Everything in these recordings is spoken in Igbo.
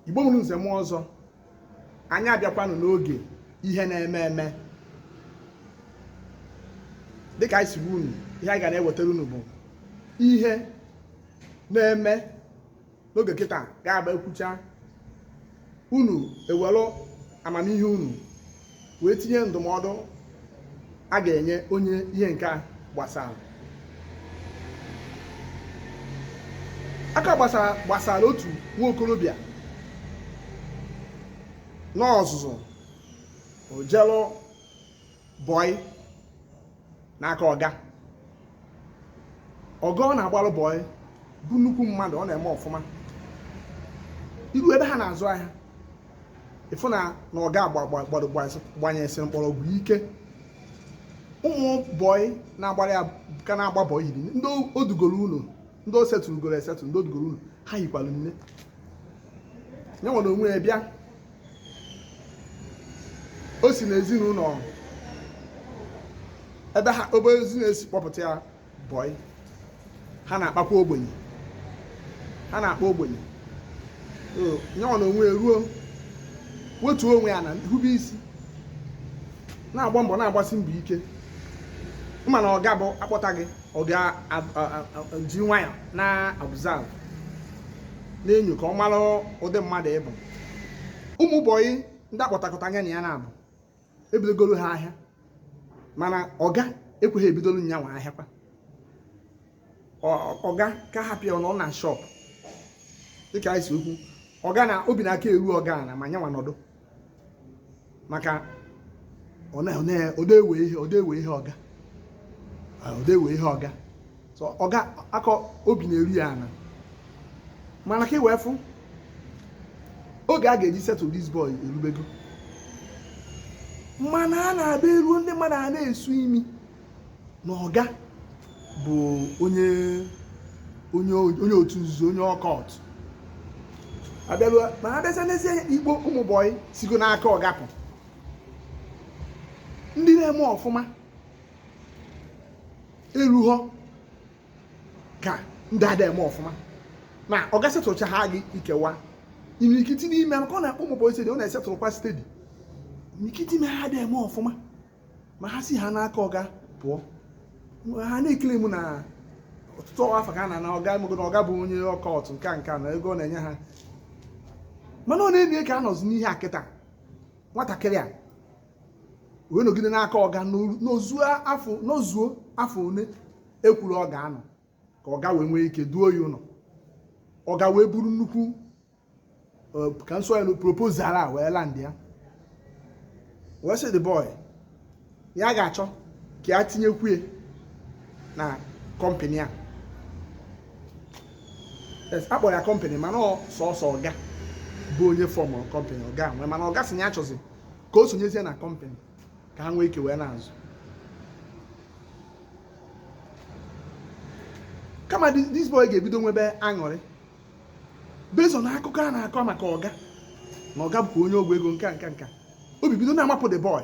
igbo mụrụ nze mụọ ọzọ anyị abịakwanụ n'oge ihe na-eme eme dịka anyị si gwa unu ihe anyị ga na-ewetara unu bụ ihe na-eme n'oge kịta ga-abụ e kwucha unu ewere amamihe unu wee tinye ndụmọdụ a ga-enye onye ihe nke a gbasara nke a gbasara otu nwa okorobịa n'ọzụzụ o jelu bọị n'aka ọga ọga ọ na-agbalụ bọị bụ nnukwu mmadụ ọ na-eme ọfụma i ru ebe ha na-azụ ahịa ị fụ na ọga gbanyesịrị mkpọrọgwụ ike ụmụ bọị na-agbara ya ka na-agba bọị hiri nne ndị o dugoro ụlọ ndị o settlegoro esettle ndị o dugoro ụlọ ha hikwara nne ya nwa n'onwe ya bịa o si n'ezinụlọ ebe ha obere ezinụlọ e si kpọpụta ya bọị ha na-akpakwa ogbenye ha na-akpa ogbenye nyanwa n'onwe ruo wetuo onwe ya ana hube isi na-agba mbọ na-agbasi mbọ ike mana ọga bụ a kpọta gị ọ ga-eji nwayọ na-observe na-enyo ka ọ mara ụdị mmadụ ị bụ ụmụ bọyị ndị a kpọtakọta nya na ya na-abụ e bidogoro ha ahịa mana ọga ekweghị ebidoro nya nwa ahịa kwa ọga ka hapụ ya nọ na shop dịka anyị si ekwu ọga na obi na-aka eru ọga ana ma nyanwa nọdụ maka ọ da ewe ihe ọga ọ da ewe ihe ọga so ọga aka obi na-eru ya ana mana ka e wee fụ oge a ga-eji settle this boy erubego mana a na-abịa eruo ndị mmadụ a na-esu imi na ọga bụ onye otu nzuzo onye occult a bịaruo mana a bịazie n'eziokwu ụmụ bọyị sigo n'aka ọga pụ ndị na-eme ọfụma erughọ ka ndị ada eme ọfụma ma ọga settlecha ha gị ikewa imirikiti n'ime maka ọ na-akpọ ụmụ bọyị steady ọ na-esettlekwa steady imirikiti ime ha ada eme ọfụma ma ha si ha n'aka ọga pụọ ha na-eclaim na ọtụtụ afọ ka a na-ana ọga emego na ọga bụ onye occult nke a nke a na ego ọ na-enye ha mana ọ na-enye ka a nọzi n'ihe a kịta nwatakịrị a wee nọgide n'aka ọga nọru- nọzuo afọ nọzuo afọ one e kwuru ọ ga-anọ ka ọga wee nwee ike duo ya ụlọ ọga wee buru nnukwu ka m sị proposal a wee land ya wee sị the boy ya ga-achọ ka ya tinyekwuye na kọmpanị a a kpọrọ ya kọmpanị mana sọsọ ọga bụ onye fọm kọmpanị ọga nwe ya mana ọga sị ya achọzi ka o sonyezie na kọmpanị ka ha nwee ike wee na-azụ kama this boy ga-ebido nwebe aṅụrị based on akụkọ a na-akọ maka ọga na ọga bụkwa onye ọgwụ ego nke a nke nka obi bido na-amapụ the boy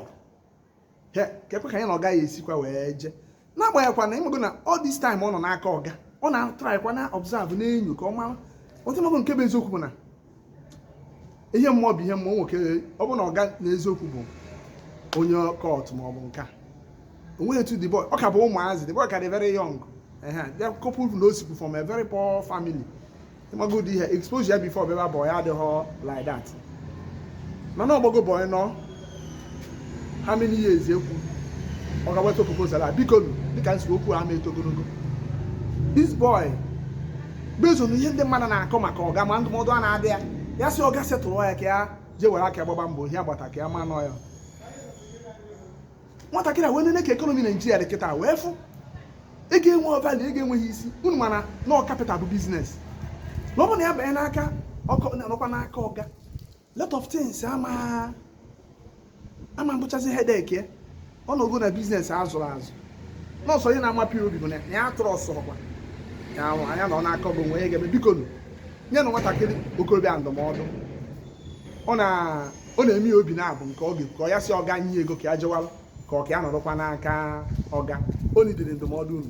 he kekwa ka anyị na ọga ya-esikwa wee jee n'agbanyeghịkwa na ịmago na all this time ọ nọ n'aka ọga ọ na-atraịkwa na-observe na-enyo ka ọ mara although ịmago nke bụ eziokwu bụ na ihe mmụọ bụ ihe mmụọ nwe ike ọ bụ na ọga na eziokwu bụ onye cult maọbụ nke a o nweghị etu the boy ọ ka bụ ụmụazị the boy ka dị very young ya couple na o sikwu from a very poor family ịmago ụdị ihe expose ya before bịaba boy adịghọ like that mana ọ gbago boy nọ how many years ekwu ọga eweta proposal a biko dịka m sị okwu ama eto ogologo this boy based on ihe ndị mmadụ na-akọ maka ọga ma ndụmọdụ a na-adụ ya ya sị ọga settle ya ka ya jee were aka gbaba mbọ ihe a gbata ka ya ma na ọ ya nwatakịrị a wee nene ka ekonomi naijiria dị kịta wee fụ ego enwe value ego enweghị isi unu ma na ọ kapital bụ biznes na ọ bụ na ya banye n'aka ọkọ nọkwa n'aka ọga lot of things ama abụchazi hedek ya ọ nọgo na biznes a zụrụ azụ na ọ sọ ihe na-amapụ ya obi bụ na ya atụrụ ọsọ ọkwa ya ahụ anya na ọ na-akọ bụ nwe ya ga-eme bikonụ nyenụ nwatakịrị okorobịa ndụmọdụ ọ na ọ na-eme ya obi naabọ nke ọ ga-ekwu ka ọ ya sị ọga nye ego ka ya jewalụ ka ọ ka ya nọrọkwa n'aka ọga o nidiri ndụmọdụ unu